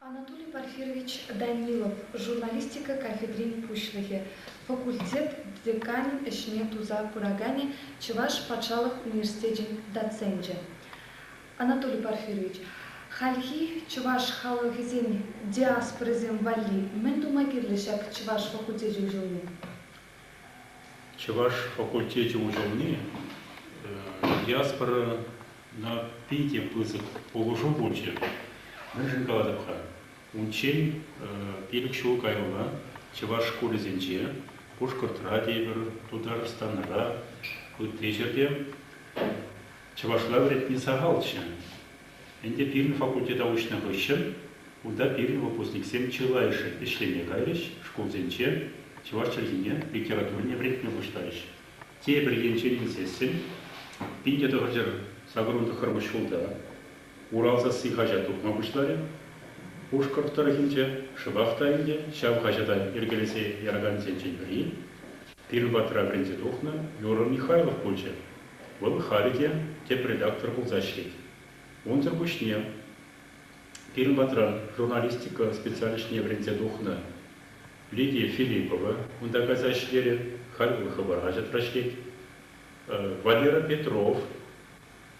Анатолий Порфирович Данилов журналистика кафедрин пуҫлӑхӗ, факультет деканӗн ӗҫне туса пыраканӗ, Чӑваш патшалӑх университечӗн доценчӗ. Анатолий Порфирович, хальхи чӑваш халӑхӗсен диаспорисем валли мӗн тума кирлӗ ҫак чӑваш факультечӗн ҫулне? Чӑваш факультечӗ уҫӑлни диаспорӑна питӗ пысӑк пулӑшу пулчӗ. Мӗншӗн калатӑп-ха? Унччен пилӗк ҫул каялла чӑваш шкулӗсенче Пушкӑртра тепӗр, Тутарстанра, ытти ҫӗрте чӑвашла вӗрентни сахалччӗ. Ӗнтӗ пирӗн факультета уҫнӑ хыҫҫӑн унта пирӗн выпускниксем чылайӑшӗ ӗҫлеме кайрӗҫ, шкулсенче чӑваш чӗлхине, литературине вӗрентме пуҫларӗҫ. Тепӗр енчен илсессӗн, пин те тӑхӑрҫӗр сакӑрун тӑххӑрмӗш ҫулта Урал сасси хаҫат тухма пуҫларӗ. Пушкӑрт тӑрӑхӗнче шӑпах та ӗнтӗ ҫав хаҫата йӗркелесе яракансенчен пӗри, пирӗн патра вӗренсе тухнӑ Юра Михайлов пулчӗ. Вӑл халӗ те тӗп редактор пулса ӗҫлет. Унсӑр пуҫне пирӗн патран журналистика специалисчӗне вӗренсе тухнӑ Лидия Филиппова унта кайса ӗҫлерӗ, халь вӑл хыпар хаҫатра ӗҫлет. Валера Петров,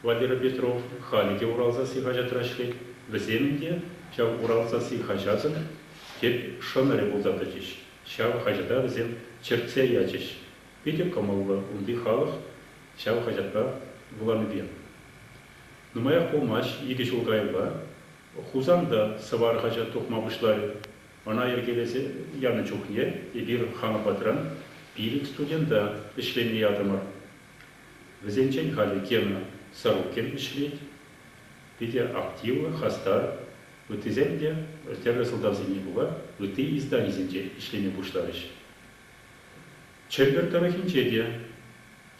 Валера Петров халӗ те Урал сасси хаҫатра ӗҫлет, вӗсем те ҫав Урал сасси хаҫатӑн тӗп шӑнӑрӗ пулса тӑчӗҫ. Ҫав хаҫата вӗсем чӗртсе ячӗҫ, Питӗ кӑмӑллӑ унти халӑх ҫав хаҫатпа вуланипе. Нумаях пулмасть икӗ ҫул каялла Хусанта Сӑвар хаҫат тухма пуҫларӗ. Ӑна йӗркелесе янӑ чухне эпир хамӑр патран пилӗк студента ӗҫлеме ятӑмӑр. Вӗсенчен халӗ Гена Сорокин ӗҫлет. Питӗ активлӑ, хастар. Ыттисем те тӗрлӗ сӑлтавсене пула ытти изданисенче ӗҫлеме пуҫларӗҫ. Чӗмпӗр тӑрӑхӗнче те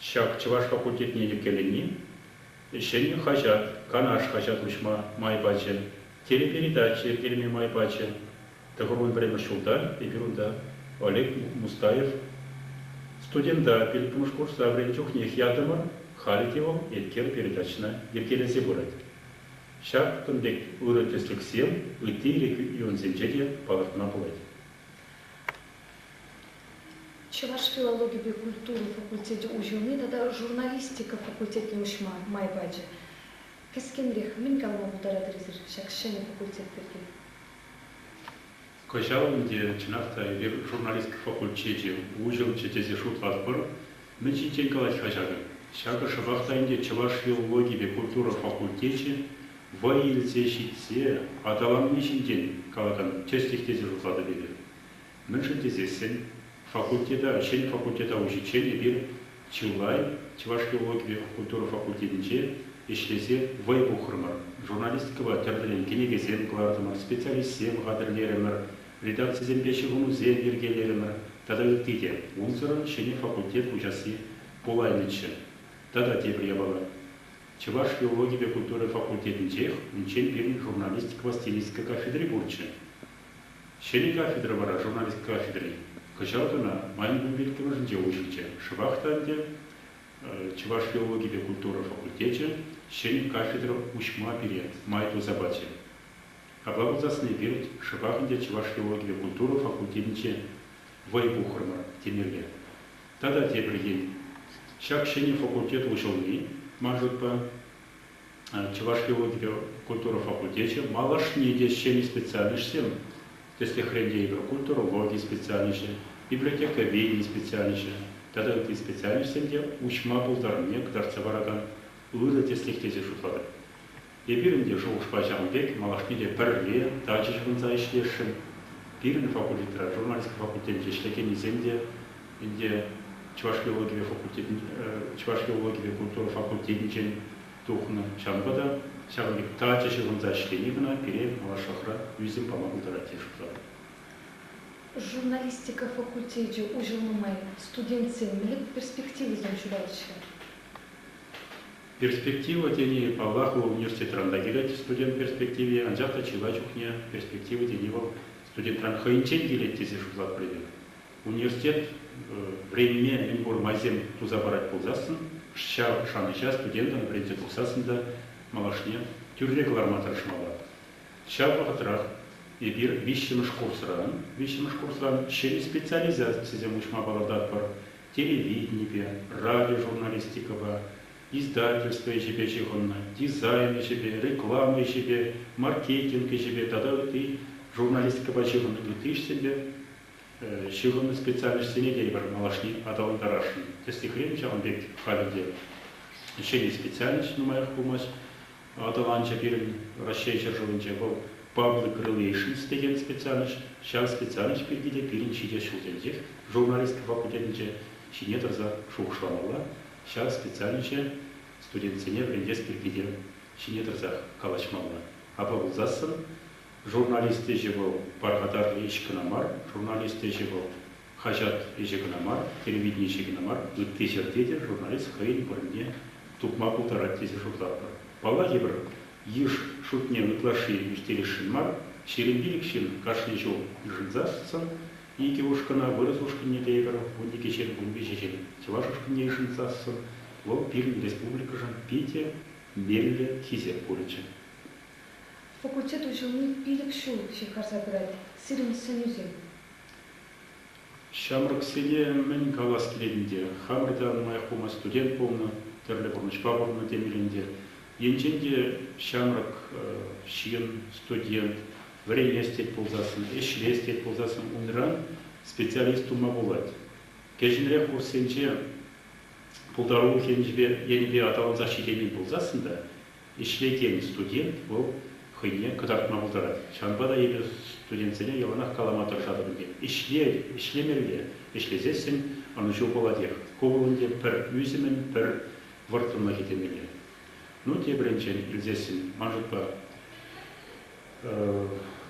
ҫак чӑваш факультетне йӗркелени ҫӗнӗ хаҫат, Канаш хаҫат уҫма май пачӗ, телепередача йӗркелеме май пачӗ. Тӑхӑрвун пӗрремӗш ҫулта эпир унта Олег Мустаев студента пилӗкмӗш курса вӗреннӗ чухнех ятӑмӑр, халӗ те вӑл Эткер передачӑна йӗркелесе пырать. Ҫакӑн пек ырӑ тӗслӗхсем ытти регионсенче те палӑртма пулать. Чӑваш филологипе культура факультечӗ уҫӑлни тата журналистика факультетне уҫма май пачӗ. Кӗскенрех мӗн калама пултаратӑр-эсир ҫак ҫӗнӗ факультет пирки? Кӑҫал ӗнтӗ, чӑнах та, эпир журналистика факультечӗ уҫӑлчӗ тесе шутлатпӑр. Мӗн ҫинчен калать-ха ҫакӑ? Ҫакӑ шӑпах та ӗнтӗ Чӑваш филологипе культура факультечӗ вӑй илсе ҫитсе аталанни ҫинчен калакан тӗслӗх тесе шутлатӑп эпир. Мӗншӗн тесессӗн факультета, ӗҫчен факультета уҫиччен эпир чылай чӑваш филологипе культура факультетӗнче ӗҫлесе вӑй пухрӑмӑр, журналистикӑпа тӗрлӗрен кӗнекесем кӑлартӑмӑр, специалистсем хатӗрлерӗмӗр, редакцисемпе ҫыхӑнусем йӗркелерӗмӗр тата ытти те. Унсӑрӑн ҫӗнӗ факультет уҫасси пулаймӗччӗ. Тата тепӗр япала, чӑваш филологипе культура факультетӗнчех унччен пирӗн журналистикӑпа стилистика кафедри пурччӗ. Ҫӗнӗ кафедра вара журналист кафедри кӑҫал кӑна майӑн кун иккӗмӗшӗнче уҫӑлчӗ. Шӑпах та ӗнтӗ Чӑваш филологи те культура факультечӗ ҫӗнӗ кафедра уҫма пире май туса пачӗ. Апла пулсассӑн эпир шӑпах ӗнтӗ Чӑваш филологи те культура факультетӗнче вӑй пухрӑмӑр темелле. Тата тепӗр ен, ҫак ҫӗнӗ факультет уҫӑлни, ман шутпа, Чӑваш филологире культура факультечӗ малашне те ҫӗнӗ специальноҫсем, тӗслӗхрен те игрокультурологи специальноҫӗ, библиотековедени специальноҫӗ тата ытти специальноҫсем те уҫма пултарнине кӑтартса паракан ырӑ тӗслӗх тесе шутлатӑп. Эпир ӗнтӗ шухӑшпа ҫавӑн пек малашне те пӗрре тачӑ ҫыхӑнса ӗҫлесшӗн. Пирӗн факультетра журналистика факультетӗнче ӗҫлекеннисем те Ӗнтӗ Чӑваш филологипе факультетӗн Чӑваш филологипе культура факультетӗнчен тухнӑ. Ҫавӑнпа та ҫавӑн пек тачӑ ҫыхӑнса ӗҫлени кӑна пире малашлӑхра ӳсӗм пама пултарать тесе шутлатӑп. Журналистика факультечӗ уҫӑл нумай, студентсем мӗлӗк перспективисем ҫутаҫҫӗ. Перспектива тени, паллах, вӑл университетран та килет студент перспективи, анчах та чылай чухне перспектива тени вӑл студентран хӑйӗнчен килет тесе шутлатпӑр эпир. Университет вӗренме мӗнпур майсем туса парать пулсассӑн, ҫав шанӑҫа студентӑн вӗренсе тухсассӑн та малашне тӳрре кӑларма тӑрӑшмалла. Ҫав вӑхӑтрах эпир виҫҫӗмӗш курсран, виҫҫӗмӗш курсран ҫӗнӗ специализацисем уҫма палӑртатпӑр, телевиденипе, радиожурналистикӑпа, издательство ӗҫӗпе ҫыхӑннӑ, дизайн ӗҫӗпе, реклама ӗҫӗпе, маркетинг ӗҫӗпе тата ытти журналистикӑпа ҫыхӑннӑ ытти ӗҫсемпе Ҫыхӑннӑ специальноҫсене те эпир малашне аталантарасшӑн. Тӗслӗхрен, ҫавӑн пек халӗ те ҫӗнӗ специальноҫ нумаях пулмасть аталанчӗ пирӗн Раҫҫей ҫӗршывӗнче. Вӑл Public Relations текен специальноҫ. Ҫав специальноҫ пирки те пирӗн ҫитес ҫулсенчех журналистика факультетӗнче ҫине тӑрса шухӑшламалла. Ҫав специальноҫе студентсене вӗрентес пирки те ҫине тӑрсах калаҫмалла. Апла пулсассӑн Журналист ӗҫӗ вӑл пархатарлӑ ӗҫ кӑна мар, журналист ӗҫӗ вӑл хаҫат ӗҫӗ кӑна мар, телевидени ӗҫӗ кӑна мар, ытти ҫӗрте те журналист хӑйӗн вырӑнне тупма пултарать тесе шутлатпӑр. Палла йывӑр йыш шутне ытлашши ӳстересшӗн мар, ҫирӗм пилӗк ҫын кашни ҫул йышӑнсассӑн икӗ ушкӑна, вырӑс ушкӑнне те эпир вун икӗ ҫын, вун виҫӗ ҫын чӑваш ушкӑнне йышӑнсассӑн, вӑл пирӗн республикӑшӑн питӗ меллӗ хисеп пулӗччӗ. Факультет уҫӑлни пилӗк ҫул ҫывхарса пырать сирӗн сӗнӳсем. Ҫамрӑксене мӗн калас килет ӗнтӗ, хамӑр та нумаях пулмасть студент пулнӑ, тӗрлӗ пурнӑҫпа пурӑннӑ темел ӗнтӗ. Енчен те ҫамрӑк ҫын, студент, вӗренес тет пулсассӑн, ӗҫлес тет пулсассӑн унран специалист тума пулать. Кӗҫӗнрех курссенче пултарулӑх енӗпе аталансах ҫитеймен пулсассӑн та Ӗҫлекен студент вӑл хӑйне кӑтартма пултарать. Ҫавӑнпа та эпир студентсене яланах калама тӑрӑшатӑп ӗнтӗ, ӗҫле, ӗҫлемелле, ӗҫлесессӗн ӑнӑҫу пулатех. Ку вӑл ӗнтӗ пӗр ӳсӗмӗн пӗр вӑрттӑнлӑхӗ темелле. Ну, тепӗринчен илсессӗн, ман шутпа,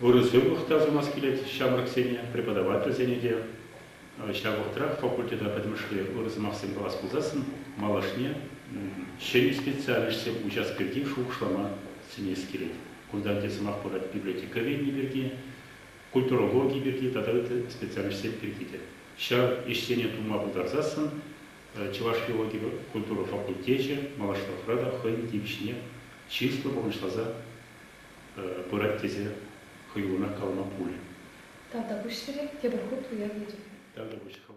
ырӑ сывлӑх та сунас килет ҫамрӑксене, преподавательсене те. Ҫав вӑхӑтрах факультета пӗтӗмӗшле ырӑ сӑмахсем калас пулсассӑн малашне ҫӗнӗ специальноҫсем уҫас пирки шухӑшлама сӗнес килет. Кунта ӗнтӗ сӑмах пырать библиотека венни пирки, культурологи пирки тата ытти специальноҫсем пирки те. Ҫав ӗҫсене тума пултарсассӑн чӑваш филологи культура факультечӗ малашлӑхра та хӑйӗн тивӗҫне чыслӑ пурнӑҫласа пырать тесе хӑюлӑнах калама пулӗ. Тавтапуҫ сире, тепӗр хут уявлетӗп. Тавтапуҫ хӑв.